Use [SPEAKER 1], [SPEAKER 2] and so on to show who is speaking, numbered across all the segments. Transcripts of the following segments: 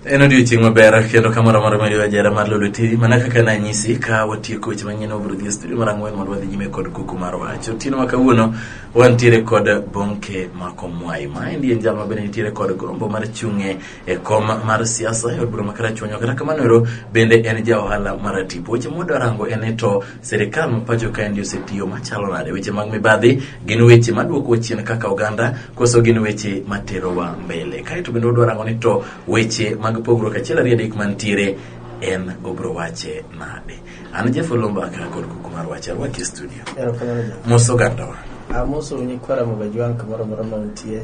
[SPEAKER 1] en odiochieng' maber kendo kamoro amora ma ajera mar lolo tiri mana kaka nanyisi ka watieko weche manyien obro dhi e studio mar ang'wen mondo wadhi nyime kod kuku mar wach otieno ma kawuono wantiere kod bonke makomwai ma endi en jal ma bende nitiere kod gombo mar chung'e e kom mar siasa e od bura ma karachuonyo kata kamano ero bende en ja ohala mar tipo weche mwadwarango en e to Sirikal ma pacho kaendi osetiyo machalo nade? Weche mag mibadhi gin weche maduokowa chien kaka oganda koso gin weche materowa mbele? Kaeto bende wadwa rango ni to weche mag pogruok achiel ariyo adek mantiere en obro wache nade? An Jeff Olomba aka kod kuku mar wacha rwaki e studio. Erokamano ja. Mos ogandawa. Amoso nyikwara
[SPEAKER 2] Mogajwang' kamoro amora ma untie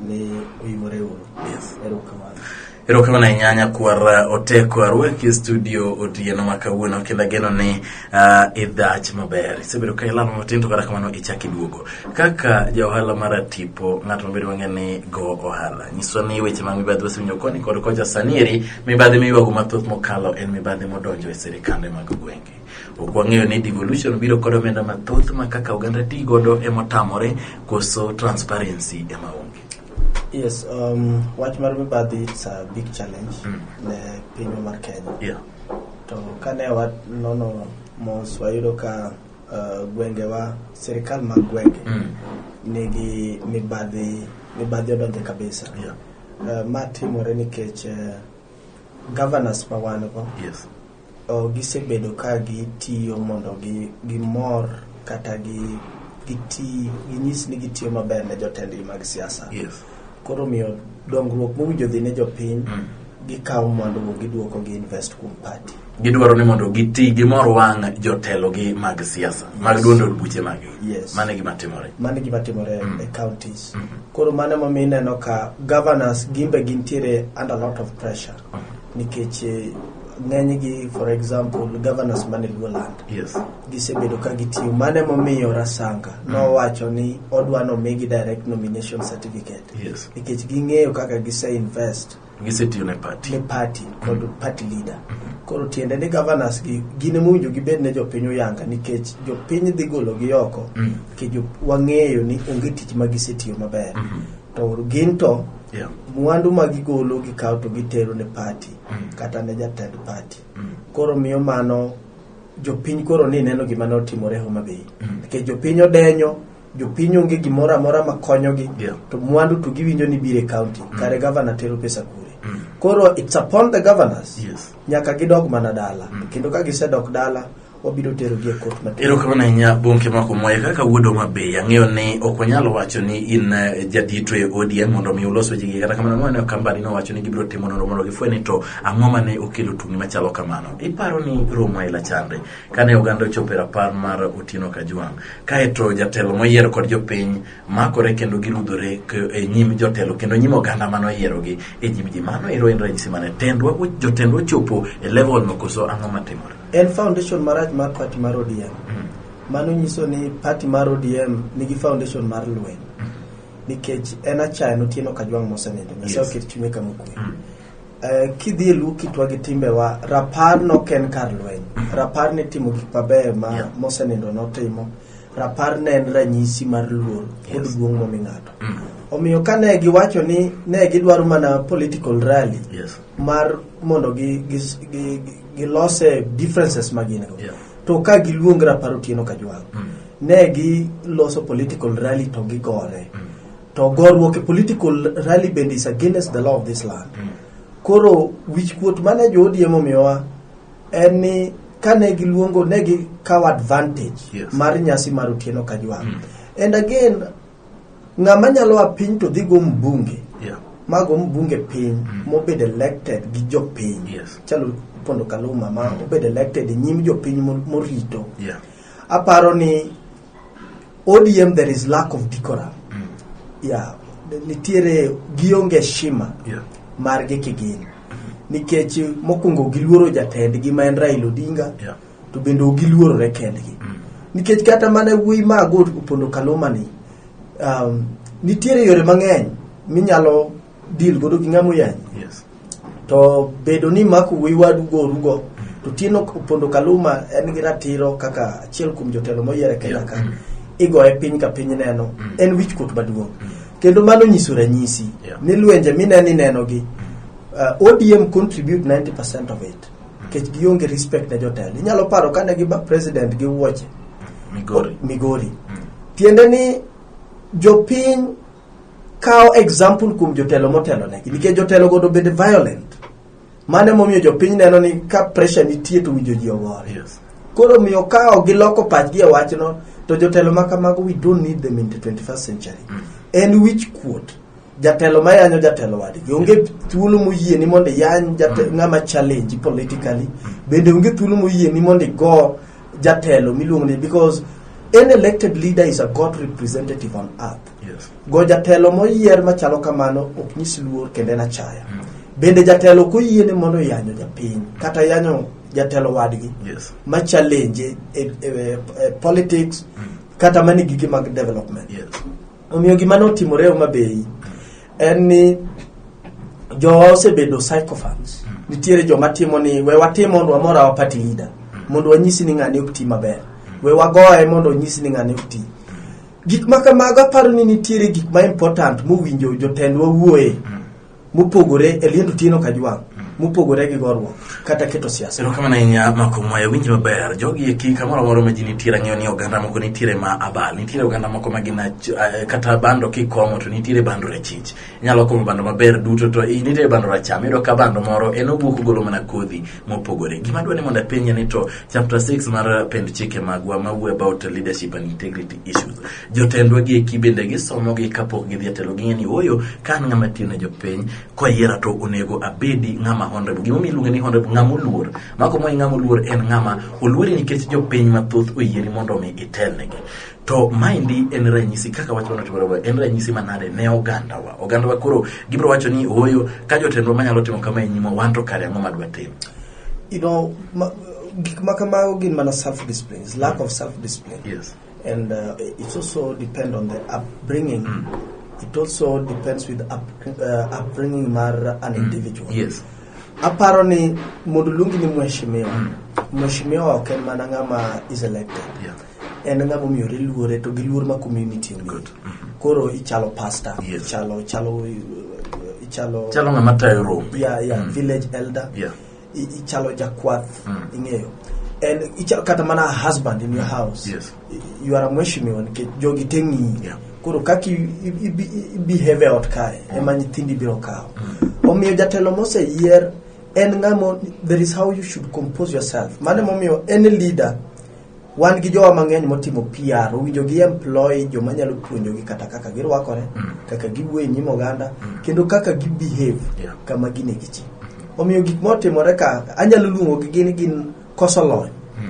[SPEAKER 2] ni uyimore uru. Yes. Erokamano. Erokamano ahinya
[SPEAKER 1] nyakwar uh, Oteko arwaki e studio otieno ma kawuono kendo ageno ni uh, idhach maber. Isebedo ka ilamo matin to kata kamano ichak iduogo. Kaka ja ohala mar tipo ng'at mabedo mang'e ni go ohala. Nyiswa ni weche mag mibadhi wasewinjo koni kod kocha sani eri mibadhi miywago mathoth mokalo en mibadhi modonjo e sirikande mag gwenge. Ok wang'eyo ni devolution biro kod omenda mathoth ma kaka oganda ti godo emotamore koso transparency ema onge. Yes,
[SPEAKER 2] um, wach mar mibadhi it's a big challenge mm. ne pinywa mar Kenya. Yeah. To
[SPEAKER 1] kane
[SPEAKER 2] wanono mos wayudo ka uh, gwengewa sirikal mag gwenge mm. nigi mibadhi mibadhi odonje kabisa. Yeah. Uh, ma
[SPEAKER 1] timore
[SPEAKER 2] nikech uh, governors ma wan go. Yes.
[SPEAKER 1] Gisebedo
[SPEAKER 2] ka gitiyo mondo gimor kata ginyis ni gitiyo maber ne jotendgi mag siasa. Koro
[SPEAKER 1] omiyo
[SPEAKER 2] dongruok mowinjo dhi ne jopiny, mm. gikawo mwandugo giduoko gi invest kuom party. Gidwaro ni mondo
[SPEAKER 1] giti gimor wang' jotelogi mag siasa mag duond od buche mag mano gima
[SPEAKER 2] timore
[SPEAKER 1] mano gima timore mm. e counties
[SPEAKER 2] mm-hmm. koro mano emomiyo ineno ka governors gimbe gintiere under lot of pressure nikech eh, ng'enygi for example governors mane luo land yes gisebedo
[SPEAKER 1] ka
[SPEAKER 2] gitiyo mane momiyo rasanga nowacho ni odwa nomigi direct nomination certificate yes nikech
[SPEAKER 1] ging'eyo kaka
[SPEAKER 2] gise invest gisetiyo ne party
[SPEAKER 1] ne party kod party
[SPEAKER 2] leader koro tiende ni governors gi gin emowinjo gibed ne jopiny oyanga nikech jopiny dhi gologi oko Mm. nikech jo- wang'eyo ni onge tich ma gisetiyo maber to gin to Yeah. mwandu ma gigolo gikawo to gitero ne pati Mm. kata ne jatend pati Mm. koro miyo mano jopiny koro ni neno gima ne otimore Homa Bay Mm. nikech jopiny odenyo jopiny onge gimoro amora ma konyogi Yeah. to mwandu to giwinjo ni bire county kare gavana tero pesa kure Mm. koro it's upon the governors Yes. nyaka gidog
[SPEAKER 1] mana
[SPEAKER 2] dala Mm. kendo ka gisedok dala wabiro terogi e kot maduong'. Erokamano ahinya Bonke
[SPEAKER 1] Mako Mwaye kaka wuod Homa Bay. Ang'eyo ni ok wanyal wacho ni in eh, jadito e ODM mondo mi ulos wechegi kata kamano ang'o ne kambani nowacho ni gibiro timo nonro mondo gifwe ni to ang'o ma ne okelo tungni machalo kamano. Iparo ni romo aila chande kane oganda ochopo e rapar mar Otieno Kajwang' kaeto jatelo moyiero kod jopiny makore kendo girudhore k- e nyim jotelo kendo nyim oganda mano oyierogi e nyim ji mano ero en ranyisi mane tendwa jotendwa ochopo e level no koso ang'o matimore? En foundation
[SPEAKER 2] marach mar party mar ODM. Mano nyiso ni party mar ODM nigi foundation mar lweny. Nikech en achaya notieno kajwang' mosenindo. Nyasaye Yes. oket chunye kama okwe. Eh, kidhi e luw kitwa gi timbewa rapar nok en kar lweny rapar ne timo gik mabeyo ma Yeah. mosenindo notimo rapar ne en ranyisi mar luor kod Yes. duong' momi ng'ato omiyo ka ne giwacho ni ne gidwaro mana political rally Yes. mar mondo gi, gi, gi, gi, gilose differences ma gin go Yeah. to ka giluong rapar otieno ka jwang Mm. ne giloso political rally to gigore Mm. to goruok e political rally bende is against the law of this land Mm. koro wichkuot mane jo ODM omiyowa en ni kane giluongo ne gikawo advantage Yes. mar nyasi mar otieno ka jwang Mm. and again ng'ama nyalo a piny to dhi go mbunge Yeah. mago mbunge piny mobed elected gi jopiny Yes. chalo pondo kaluma ma obed elected e nyim jopiny mo- morito Yeah. aparo ni odm there is lack of decorum yeah. nitiere gionge shima Yeah. margi kigin nikech mokwongo giluoro jatendgi ma en raila odinga Yeah. to bende ok giluorore kendgi nikech kata mana wuoyi mago opondo kalomani um, nitiere yore mang'eny minyalo deal godo gi ng'ama oyanyi Yes. to bedo ni mako wuoyi wadu gorugo to tieno opondo kaluma en gi ratiro kaka achiel kuom jotelo moyier e kenya ka igoye piny ka piny neno en wich kuot maduong' kendo mano nyiso ranyisi Yeah. ni lwenje mineno inenogi uh, odm contribute 90 percent of it nikech gionge respect ne jotelo inyalo paro kane giba president gi wuoche Migori. migori tiende ni jopiny kawo example kuom jotelo motelo negi nikech jotelo godo bende violent mane momiyo jopiny neno ni ka pressure nitie to winjo ji ogore Yes. koro
[SPEAKER 1] miyo kawo
[SPEAKER 2] giloko pachgi e wachno to jotelo ma kamago we don't need them in the 21st century en wich kuot jatelo ma yanyo jatelo wadgi onge thuolo moyieni mondo iyany jate- ng'ama challenge politically bende onge thuolo moyieni mondo igo jatelo miluongo ni because an elected leader is a god representative on earth Yes. go jatelo moyier machalo kamano ok nyis luor kendo en achaya bende jatelo ok oyiene mondo yanyo japiny kata yanyo jatelo wadgi Yes. ma
[SPEAKER 1] challenge
[SPEAKER 2] e, e, e, politics kata mani gige mag development Yes.
[SPEAKER 1] Omiyo gima
[SPEAKER 2] notimore Homa Bay en ni jowa osebedo psychophants. Nitiere joma timo ni we watim mondo wamor our party leader mondo wanyisi ni ng'ani ok ti maber. We wagoye mondo onyisi ni ng'ani ok ti. Gik ma kamago aparo ni nitiere gik ma important mowinjo jotendwa wuoye. mopogore e liend otieno kajwang' mopogore gi gorruok kata keto siasa erokamano ahinya mako
[SPEAKER 1] mwaya winji maber jogi eki kamoro amoro ma ji nitiere ang'eyo ni oganda moko nitiere ma abal nitiere oganda moko ma gin ach- eh, kata bando kikong'o to nitiere bando rachich inyalo kong'o bando maber duto to i- nitiere bando racham iyudo ka bando moro en owuok ogolo mana kodhi mopogore gima dwa ni mondo apenje ni to chapter 6 mar pend chike magwa mawuo about leadership and integrity issues Jotendwa gi eki bende gisomogi kapok gidhi e telo ging'e ni ooyo ka an ng'ama tiyo ne jopiny koyiera to onego abedi ng'ama honrebo gimomiyo iluonge ni honrebo ng'ama oluor mako moyi ng'ama oluor en ng'ama oluori nikech jopiny mathoth oyieri mondo omi itelnegi to maendi en ranyisi kaka wach manotimore en ranyisi manade ne ogandawa ogandawa koro gibiro wacho ni ooyo ka jotendwa manyalo timo kama e nyima wan to kare ang'o madwa timo you know,
[SPEAKER 2] ma, gik ma kamago gin mana self disciplines lack of self discipline yes. And
[SPEAKER 1] uh, it
[SPEAKER 2] also depends on the upbringing. Mm. It also depends with up, uh, upbringing mar an mm. individual. Yes.
[SPEAKER 1] Aparo ni
[SPEAKER 2] mondo luongi ni mheshimiwa. Mm. Mheshimiwa ok en mana ng'ama is elected. Yeah. En
[SPEAKER 1] ng'ama omiyore
[SPEAKER 2] luore to gi luor ma community onge. Good. Mm -hmm. Koro
[SPEAKER 1] ichalo
[SPEAKER 2] pastor, yes. ichalo ichalo
[SPEAKER 1] ichalo
[SPEAKER 2] ichalo ng'ama tayo rombe.
[SPEAKER 1] Yeah, yeah, mm. village
[SPEAKER 2] elder. Yeah. i-
[SPEAKER 1] ichalo
[SPEAKER 2] jakwath ing'eyo en ichalo kata mana a husband in your house Yes. I- you are a
[SPEAKER 1] mheshimiwa
[SPEAKER 2] nikech jogi te ng'iyi Yeah. koro kaka i- i- ibi- i- ibehave e ot kae ema nyithindi biro kawo omiyo jatelo moseyier en ng'amo there is how you should compose yourself mano emomiyo any leader wan gi jowa mang'eny motimo PR owinjo gi employ joma nyalo puonjogi kata kaka girwakore Mm. kaka giwuoyo e nyim oganda Mm. kendo kaka gibehave Yeah. kama gine gi ji omiyo gik motimore ka anyalo luongo gi gin gin koso lony Mm.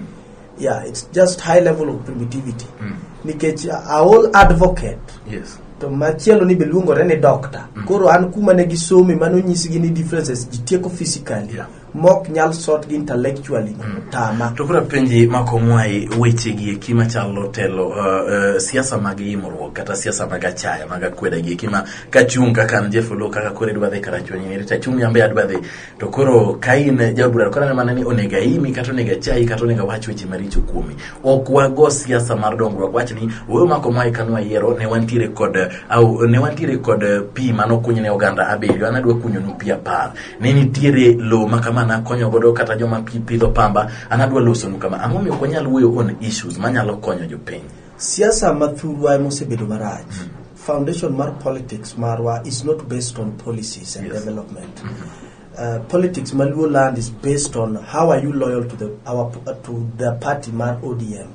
[SPEAKER 2] yeah it's just high level of primitivity Mm. nikech aol advocate Yes. to
[SPEAKER 1] machielo ni
[SPEAKER 2] be luongore ni doctor Mm. koro an kuma ne gisome mano nyisgi ni differences ji tieko physically Yeah. mok nyal
[SPEAKER 1] sort
[SPEAKER 2] gi intellectually mm. tama to kura penji
[SPEAKER 1] makomwae weche gi eki machalo telo uh, uh, siasa mag yimruok kata siasa mag achaya mag akweda gi eki ma kachung kaka an Jeff Olo kaka kore dwa dhi karachuonyi ni rita chung yambe adwa dhi to koro kain jabura kora ne manani onega imi kata onega chai kata onega wach weche maricho kuomi ok wago siasa mar dongruok wach ni wewe makomwae kanwa yiero ne wantiere kod au ne wantiere kod uh, pi manokunyne oganda abiriyo anadwa kunyonu pi apar ne nitiere lowo ma kama nakonyo godo kata joma pi- pidho pamba an adwa losonu kama ang'o miyo ok wanyal wuoyo on issues manyalo konyo jopiny siasa ma
[SPEAKER 2] thurwa ema osebedo marach foundation mar politics marwa is not based on policies and Yes. development Uh, politics ma luo land is based on how are you loyal to the, our, to the party mar odm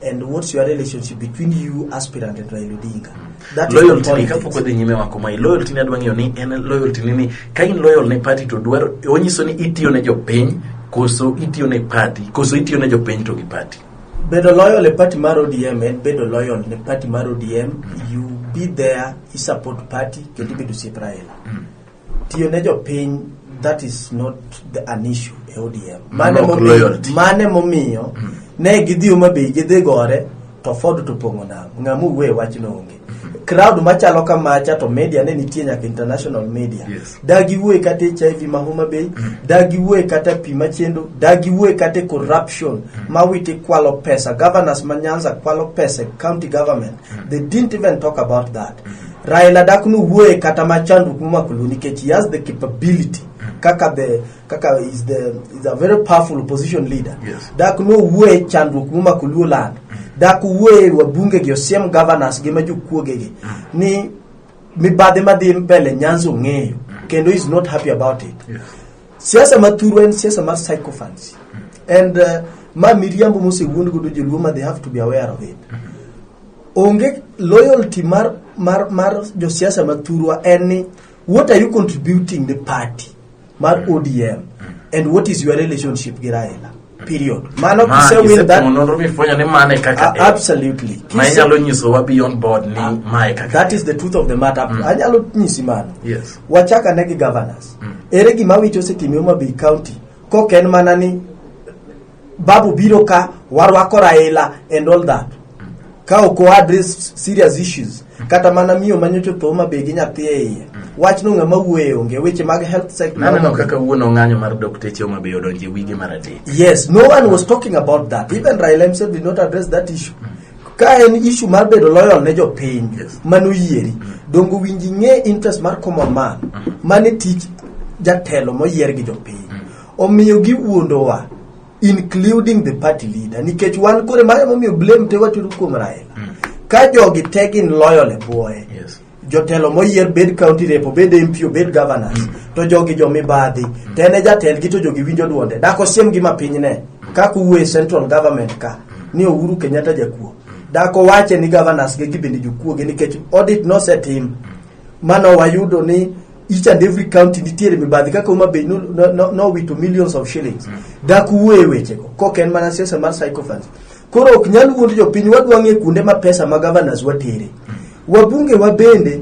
[SPEAKER 2] and what's your relationship between you aspirant and Raila Odinga that is loyalty ni politics. kapok odhi
[SPEAKER 1] nyime wako mai loyalty ni adwa ng'eyo ni en loyalty ni ni ka in loyal ne party to dwaro onyiso ni itiyo ne jopiny koso itiyo ne party koso itiyo ne jopiny to gi party bedo loyal e
[SPEAKER 2] party mar odm en bedo loyal ne party mar odm you be there i support party kendo ibedo osiep raila Tiyo ne jopiny that is not the, an issue e ODM. Mane Nok momiyo, loyalty. mane momiyo ne gidhi Homa Bay gidhi gore to Ford to pong'o nam. Ng'ama owuoye wachno onge. Crowd machalo kamacha to media ne nitie nyaka international media. Yes. Dagi wuoye kata HIV ma Homa Bay, dagi wuoye kata pi machendo, dagi wuoye kata corruption ma witi kwalo pesa. Governors ma Nyanza kwalo pesa e county government. They didn't even talk about that. Raila dak nowuoye kata ma chandruok momako Luo nikech he has the capability kaka the kaka is the is a very powerful opposition leader Yes. dak nowuoye chandruok momako Luo land dak wuoye wabunge gi osiem governors gi ma jokuoge gi ni mibadhi madhi mbele Nyanza ong'eyo kendo is not happy about it Yes.
[SPEAKER 1] siasa ma thuru
[SPEAKER 2] en siasa mar psychophancy and uh, ma miriambo mosewuond godo joluo ma they have to be aware of it onge loyalty mar mar mar josiasa ma thurwa en ni what are you contributing the party mar odm and what is your relationship gi raila period mano Ma, kise win that isetimo nonro mifwenyo ni mano e kaka a- en. absolutely ma Kise- inyalo nyisowa
[SPEAKER 1] beyond board ni ma e kaka that is the truth of the matter
[SPEAKER 2] anyalo nyisi mano yes wachak ane
[SPEAKER 1] gi governors
[SPEAKER 2] ere gima wicho osetime Homa Bay county kok en mana ni babu biro ka warwako raila and all that ka ok o address serious issues kata mana miyo manyocho tho ma be gi nyathi e iye wach no ng'ama wuoye onge weche mag health sector naneno kaka wuon ong'anyo
[SPEAKER 1] mar dokteche oma be odonje wige mar adek yes no one was
[SPEAKER 2] talking about that even raila himself did not address that issue ka en issue mar bedo loyal ne jopiny Yes. mano yieri dongo winji ng'e interest mar common man mane tich jatelo moyier gi jopiny Omiyo giwuondowa including the party leader nikech wan kore mano momiyo blame te watero kuom Raila. Mm. Ka jogi te gin loyal e bwoye. Yes. jotelo
[SPEAKER 1] moyier
[SPEAKER 2] bed county rep obed MP obed governor mm. to jogi jo mibadhi mm. to en e jatelgi to jogi winjo duonde dak osiemgi ma piny ne mm. kaka uwe central government ka ni Uhuru Kenyatta jakuo dak owache ni governors ge gibende jokuoge nikech audit nosetim mano wayudo ni each and every county nitiere mibadhi kaka Homa Bay nowito no, no, nowito millions of shillings dak wuoye wechego kok en mana siasa mar sycophants koro ok nyal wuond jopiny wadwa ng'e kuonde ma pesa ma governors watere wabunge wa bende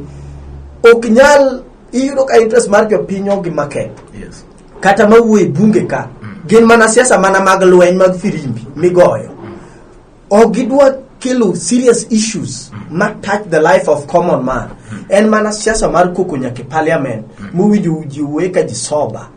[SPEAKER 2] ok nyal iyudo ka interest mar jopiny ogi maketh Yes. kata
[SPEAKER 1] mawuoye
[SPEAKER 2] bunge ka gin mana siasa mana mag lweny mag firimbi migoyo ok gidwa kelo serious issues ma touch the life of common man en mana siasa mar koko nyaka e parliament mowinjo ji wuoye ka ji soba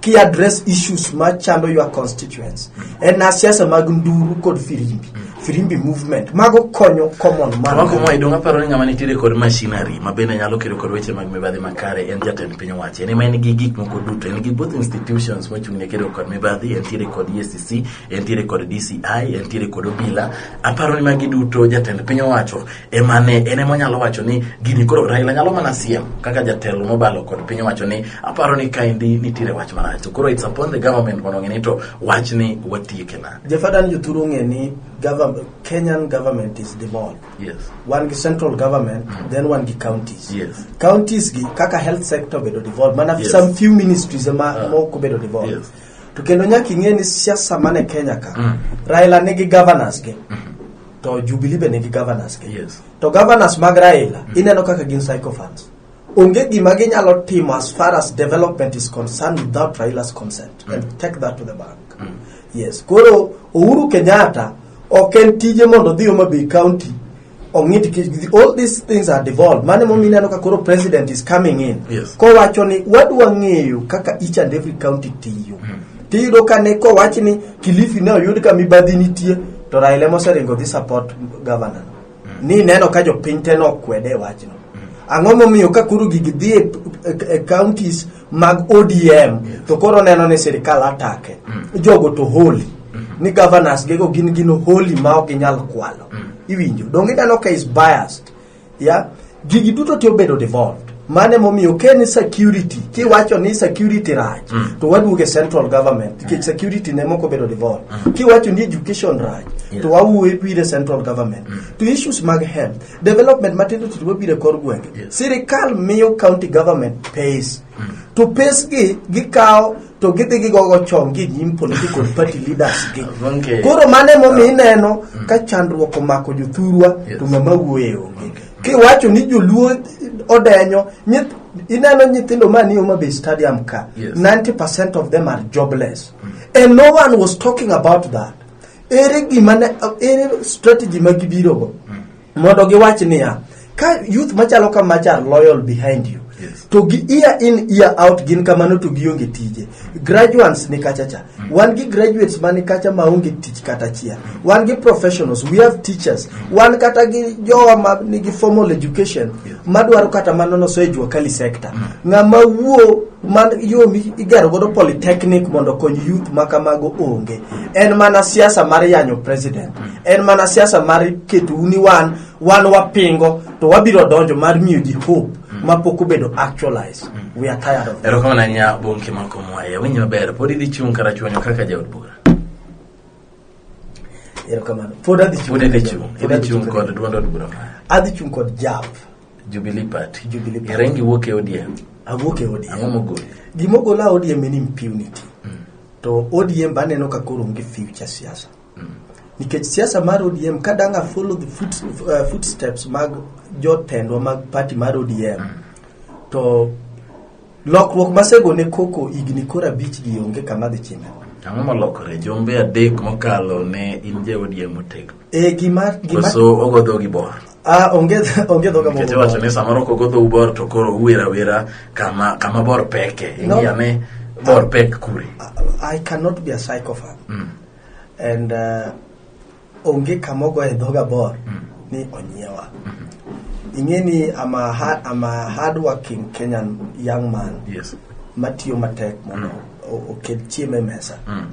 [SPEAKER 2] ki address issues ma chando your constituents en na siasa mag nduru kod firimbi firimbi movement mago konyo common man Wako mwa idong aparo ni ng'ama
[SPEAKER 1] nitiere kod machinery ma bende nyalo kedo kod weche mag mibadhi makare en jatend piny owacho en ema en gi gik moko duto en gi both institutions mochung' ne kedo kod mibadhi entiere kod EACC entiere kod DCI, entiere kod obila. Aparo ni magi duto jatend piny owacho ema ne en ema onyalo wacho ni gini koro Raila nyalo mana siem kaka jatelo mobalo kod piny owacho ni aparo ni kaendi nitiere wach marach. To koro it's upon the government mondo ng'e to wach ni watieke na. Jafadan joturu ng'e
[SPEAKER 2] ni government, Kenyan government is devolved. Yes. Wan gi
[SPEAKER 1] central
[SPEAKER 2] government, mm. then wan gi counties. Yes. Counties
[SPEAKER 1] gi kaka
[SPEAKER 2] health sector bedo devolved. Mana yes. some few ministries
[SPEAKER 1] ema
[SPEAKER 2] uh, ah. moko bedo devolved. Yes. to kendo
[SPEAKER 1] nyaka ing'e
[SPEAKER 2] ni siasa mane kenya ka Mm. raila nigi governors gi to jubilee be nigi governors gi Yes. to governors
[SPEAKER 1] mag
[SPEAKER 2] raila ineno kaka gin psychophants onge gima ginyalo timo as far as development is concerned without raila's consent and take that to the bank yes koro uhuru kenyatta ok en tije mondo odhi homa bay county ong'it all these things are devolved mane momi ineno ka koro president is coming in yes. kowacho ni
[SPEAKER 1] wadwa
[SPEAKER 2] ng'eyo kaka each and every county tiyo mm. tiyudo ka ne kowach ni kilifi ne oyud ka mibadhi nitie to raila moseringo dhi support governor mm. ni neno ka jopiny te nokwede e wachno mm. ang'o momiyo ka koro gigi dhi e, e, e counties mag odm to koro neno ni sirikal atake jogo to holy ni governors gego gin gino holy ma ok ginyal kwalo iwinjo donge ineno ka is biased ya gigi duto ti obedo devolved mane momiyo ke ni security kiwacho ni security rach to waduoge central government nikech security ne moko bedo devolved kiwacho ni education rach to wawuoye pire central government to issues mag health development matindo tindo mabiro e kor gwenge Yes. sirikal miyo county government pays to pays gi gikawo to gidhi gigogo chon gi nyim political party leaders gi Okay. koro mano emomiyo ineno ka chandruok omako jothurwa Yes. to ng'ama wuoye onge kiwacho ni joluo odenyo nyith- ineno nyithindo manie Homa Bay stadium ka Yes. 90 percent of them are jobless and no one was talking about that ere gima ne ere strategy ma gibirogo mondo giwach niya ka youth machalo ka machar loyal behind you Yes. to gi year in year out gin kamano to gionge tije graduates ni kacha cha wan gi graduates mani kacha maonge tich kata achiel wan gi professionals we have teachers wan kata gi jowa ma nigi formal education madwaro kata mana noso e jua kali sector ng'ama wuo man yo mi- igero godo polytechnic mondo okony youth ma kamago onge en mana siasa mar yanyo president en mana siasa mar keto uni wan wan wapingo to wabiro donjo mar miyo ji hope ma pok obedo actualized we are tired of erokamano ahinya bonke
[SPEAKER 1] makomwaye winyi maber pod idhi chung' kata chuonyo kaka jaod bura
[SPEAKER 2] erokamano pod adhi chung' Pod idhi kendo. chung', Pod idhi adhi chung' chung' kod kendo. duond od bura mane?
[SPEAKER 1] adhi chung' kod
[SPEAKER 2] jab Jubilee Party.
[SPEAKER 1] Jubilee Party. Iringi wuok e ODM. awuok e odm Ang'o
[SPEAKER 2] mogoli? gima
[SPEAKER 1] ogola odm
[SPEAKER 2] en impunity to odm baneno ka koro onge future siasa nikech siasa mar odm ka dang' a follow the foot, uh, footsteps mag jotendwa mag party mar odm to Lokruok masego ne koko higni koro abich gi onge kama dhi chime. Ang'o molokore?
[SPEAKER 1] Jumbe adek mokalo ne in ja ODM motegno. E gima gima Koso
[SPEAKER 2] ogo
[SPEAKER 1] dhogi bor. ah onge
[SPEAKER 2] onge dhoga Nikech iwacho ni samoro kogo
[SPEAKER 1] dhou bor to koro uwera wera kama kama bor peke. No. Ing'iya ni bor pek kure. I cannot
[SPEAKER 2] be a psychopath. Mm. And uh, onge kama ogoye dhoga bor ni onyiewa ing'e ni I'm a, hard, I'm a hardworking Kenyan young man Yes. matiyo
[SPEAKER 1] matek
[SPEAKER 2] mondo o- oket chiemo e mesa Mm.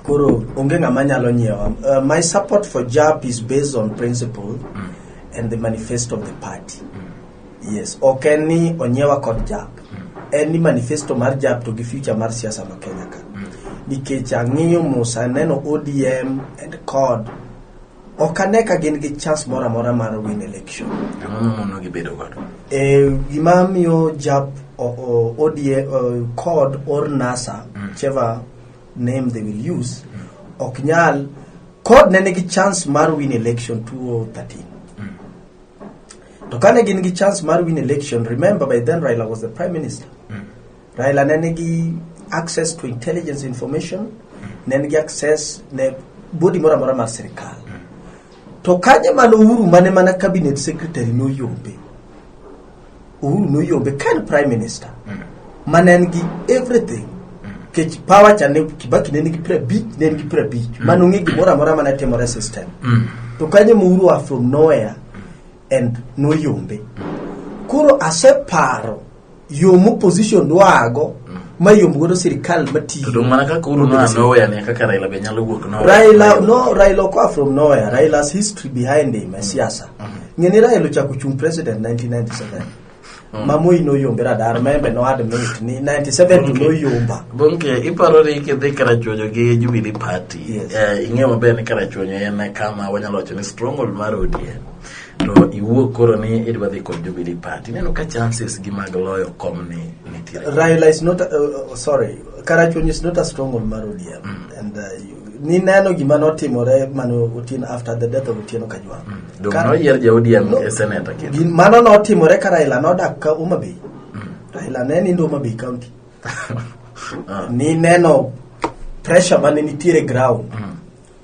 [SPEAKER 2] koro onge ng'ama nyalo nyiewa uh, my support for jab is based on principle and the manifesto of the party yes ok en ni onyiewa kod jap en ni manifesto mar jap to gi future mar siasa ma kenya ka nikech ang'iyo mos aneno odm and cod ok ane ka gin gi chance moro amora mar win election Ang'o momono gibedo
[SPEAKER 1] godo? e gima
[SPEAKER 2] miyo jap o- o- odm o- cod or nasa whichever name they will use ok nyal cod ne nigi chance mar win election 2013 To kane gin gi chance mar win election, remember by then Raila was the prime minister. Raila ne nigi access to intelligence information, ne nigi access ne body moro amora mar sirkal. To kanye mano Uhuru mane mana cabinet secretary noyombe. Uhuru noyombe ka en prime minister. Mane en gi everything. Kech power cha ne Kibaki ne nigi piero abich, ne en gi piero abich. Mano ng'e gimoro amora mane timore system. To kanye ma Uhuru are from nowhere and noyombe koro aseparo yo moposition dwago mayom godo sirikal to matiyo dong' mana kaka uru noa
[SPEAKER 1] noweya ne kaka raila be nyalo wuok noweya. Raila no Raila okoa
[SPEAKER 2] from nowhere Raila's history behind him e siasa ng'eni Raila ochako chung president 1997 mamoi noyombe radar membe no admit ni 97 to noyomba Bonke, iparo
[SPEAKER 1] ni kidhi karachuonyo gi Jubilee Party. Yes. Eh, ing'eyo maber ni karachuonyo en kama wanyalo wacho ni stronghold mar ODM. To iwuok koro ni idwa dhi kod Jubilee Party. Ineno ka chances gi mag loyo kom ni nitiere. Raila is not,
[SPEAKER 2] uh, uh, sorry, Karachuonyo is not a stronghold mar ODM. And uh, you nineno gima notimore mane otin after the death of otieno kajwang mm. Dong Kar- noyier ja ODM
[SPEAKER 1] No. e seneta kendo. Gin- mano notimore ka
[SPEAKER 2] raila nodak ka homa bay Mm. raila ne nindo homa bay county Ah, nineno pressure mane nitiere ground mm.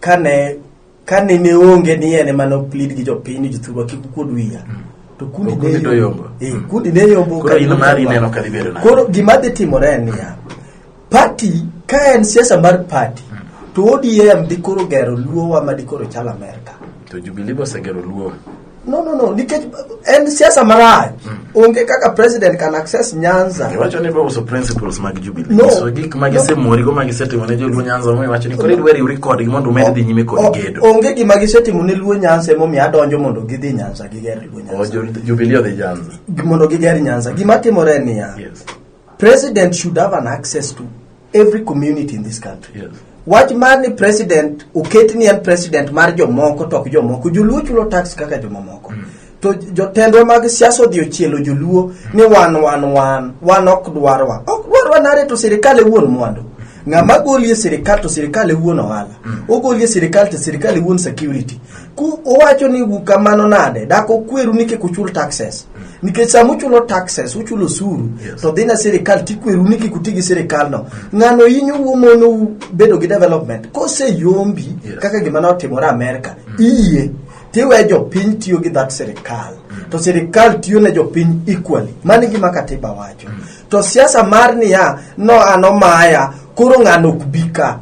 [SPEAKER 2] kane kane ne onge ni en ema noplead gi jopiny ni jothurwa kik ukuod wiya to kundi To kundi ne to yombo. yombo Eh, kundi ne yombo Koro in mari ineno ka
[SPEAKER 1] dhi bedo nade? koro gima dhi timore
[SPEAKER 2] en niya Party ka en siasa mar party to ODM dhi koro gero luowa ma dhi koro chal Amerka. To Jubilee be
[SPEAKER 1] osegero luo. No, no, no, nikech
[SPEAKER 2] en siasa marach. Onge kaka president can access Nyanza. Iwacho ni bauso
[SPEAKER 1] principles mag Jubilee. No. So gik ma gisemori go ma gisetimo ne joluo Nyanza mo iwacho ni koro idwari uri kodgi mondo umed dhi nyime kod O- gedo. Onge gima gisetimo ne
[SPEAKER 2] luo Nyanza emomiyo adonjo mondo gidhi Nyanza giger luo O Nyanza. jo- Jubilee odhi Nyanza.
[SPEAKER 1] Mondo giger Nyanza.
[SPEAKER 2] Gima timore en niya. Yes.
[SPEAKER 1] President should
[SPEAKER 2] have an access to every community in this country. Yes. Wach mar
[SPEAKER 1] ni
[SPEAKER 2] president oket ni en president mar jomoko to ok jomoko. Joluo chulo tax kaka jomamoko. Mm. To jotendwa mag siasa odhi ochielo joluo mm. ni wan wan wan wan ok dwarwa. Ok dwarwa nare to sirkal e wuon mwandu. Ng'ama goli e sirkal to sirkal e wuon ohala. Mm. Ogoli e sirkal to sirkal e wuon security. Ku owacho ni kamano nade? Dak okweru ni kik uchul taxes. nikech sama uchulo taxes uchulo osuru Yes. to dhina sirikal tikweru ni kik uti gi sirikalno ng'ano inyo wuomonou bedo gi development koseyombi Yes. kaka gima notimore amerka iye tiwe jopiny tiyo gi that sirikal to sirikal tiyo ne jopiny equally mani gima katiba wacho to siasa mar niya no an omaya koro ng'ano ok bi ka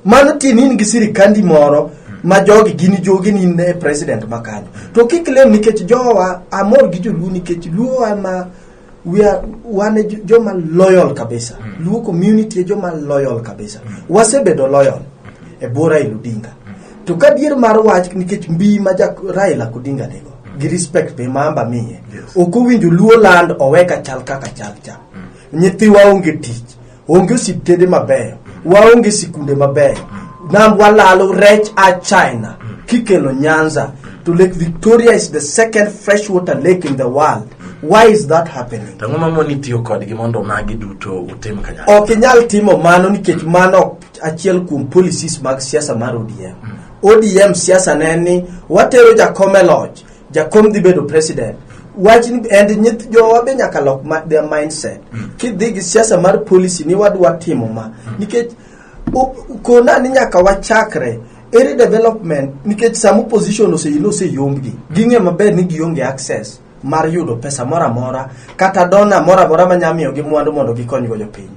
[SPEAKER 2] mano tin in gi sirikandi moro ma jogi gin jogi ni ne president ma kanyo to kik lem nikech jowa amor gi joluo nikech luo ama we are wane jo- joma loyal kabisa luo community e joma loyal kabisa wasebedo loyal e bwo raila odinga to ka dier mar wach nikech mbi ma ja raila odinga nigo gi respect be mamba miye Yes. ok owinjo luo land oweka chal kaka chal cha nyithiwa onge tich onge osiptende mabeyo waonge sikunde mabeyo nam walalo rech a china kikelo nyanza to lake victoria is the second freshwater lake in the world why is that happening to ang'o mamoni tiyo
[SPEAKER 1] kodgi mondo magi duto utim kanyakla ok inyal timo mano
[SPEAKER 2] nikech mano ok achiel kuom policies mag siasa mar odm odm siasa ne en ni watero jakom e loch jakom dhi bedo president wach ni and nyith jowa be nyaka lok ma, their mindset kidhi gi siasa mar policy ni wadwa timo ma nikech u- kona ni nyaka wachakre ere development nikech sama opposition oseyilo oseyombgi ging'e maber ni gionge access mar yudo pesa moro amora kata dona moro amora manyalo miyogi mwandu mondo gikonygo jopiny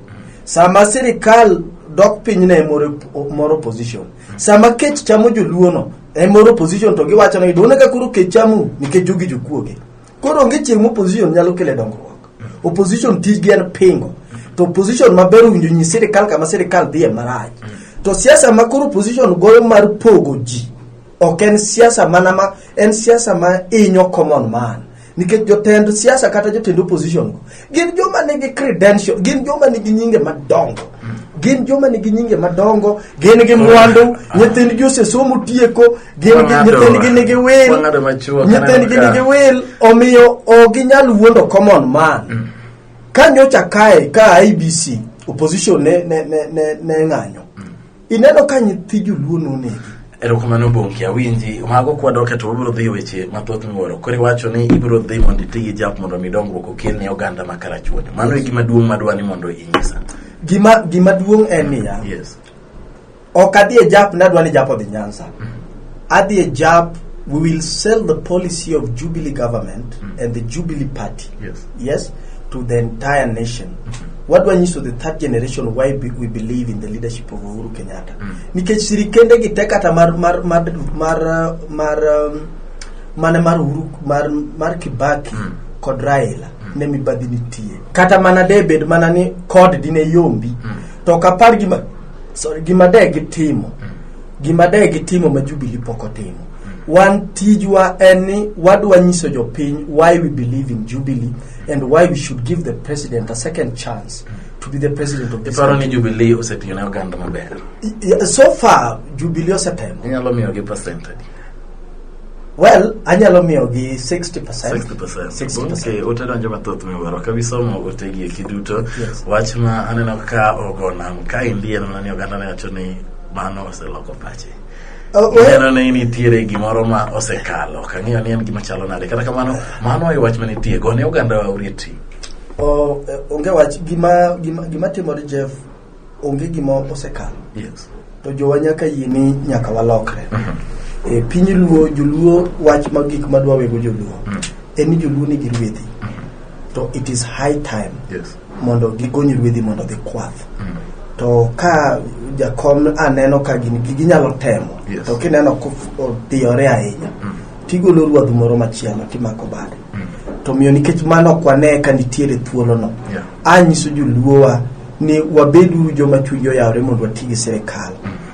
[SPEAKER 2] sama sirikal dok piny ne moro moro opposition sama kech chamo joluono en moro opposition to giwacho ni done ka koro kech chamu nikech jogi jokuoge koro onge chieng' ma opposition nyalo kele dongruok opposition tijgi en pingo to opposition maber owinjo nyi sirikal kama sirikal dhiye marach to siasa ma koro opposition goyo mar pogo ji ok en siasa mana ma en siasa ma inyo common man nikech jotend siasa kata jotend opposition go gin joma nigi credential gin joma nigi nyinge madongo gin joma nigi nyinge madongo gin gi mwandu nyithindgi osesomo tieko gin gi- Wang'ado- nyithindgi nigi wil wang'ado machuok, nyithindgi aneno ka- nigi wil omiyo ok ginyal wuondo common man ka nyocha kae ka ibc opposition ne, ne, ne, ne, ne ng'anyo Ineno ka nyithi joluo nonegi. Erokamano Bonki,
[SPEAKER 1] awinji. Mago kwadoke to wabiro dhi weche mathoth miwuoro. Koro iwacho ni ibiro dhi mondo iti gi jap mondo mi dongruok okel ne oganda ma Karachuonyo. Mano e gima duong' madwa ni mondo inyisa. Gima gima duong' en niya. Yes.
[SPEAKER 2] Ok adhi e jap nadwa ni jap odhi Nyanza. Adhi e jab, we will sell the policy of Jubilee government and the Jubilee party. Yes. Yes, to the entire nation. Wadwa nyiso the third generation why be, we believe in the leadership of Uhuru Kenyatta. Nikech sirikende gi tek kata mar mar mar mar uh, mar um, mane mar Uhuru mar mar Kibaki kod Raila ne mibadhi nitie. Kata mana debed mana ni kod dine yombi to kapar gima sorry gima de gitimo gima de gitimo ma Jubilee pok otimo. Wan tijwa en ni wadwa nyiso jopiny why we believe in Jubilee and why we should give the president a second chance to be the president of this Iparo ni country. Jubilee osetiyo
[SPEAKER 1] ne oganda maber. I- i- So far
[SPEAKER 2] Jubilee osetemo. Inyalo miyo gi percent
[SPEAKER 1] adi?
[SPEAKER 2] Well, anyalo miyo gi 60%. 60%. 60%. Okay,
[SPEAKER 1] ute donjo mathoth miwuoro. Ka bisomo utegi eki duto, Yes. wach ma aneno ka ogo nam kaendi en mana ni oganda ne wacho ni mano oseloko pache Oh, well, ineno ni nitiere gimoro ma osekalo ok ang'eyo ni en gima chalo nade kata kamano mano e wach manitie gone oganda wa urieti oh, eh,
[SPEAKER 2] onge wach gima gima gima timore Jeff onge gima osekalo yes to
[SPEAKER 1] jowa nyaka
[SPEAKER 2] yie ni nyaka walokre e piny luo joluo wach ma gik madwa wego joluo en ni joluo nigi rwedhi to it is high time yes mondo
[SPEAKER 1] gigony
[SPEAKER 2] ruedhi mondo gikwath mm. to ka jakom aneno ka gin ginyalo temo yes. to kineno kodhiyore ahinya mm. tigolo ruadh moro machielo timako bade mm. to miyo nikech mano ok wane ka nitiere thuolono yeah. anyiso joluowa ni wabeduru joma chunygi oyawore mondo wati gi sirikal mm.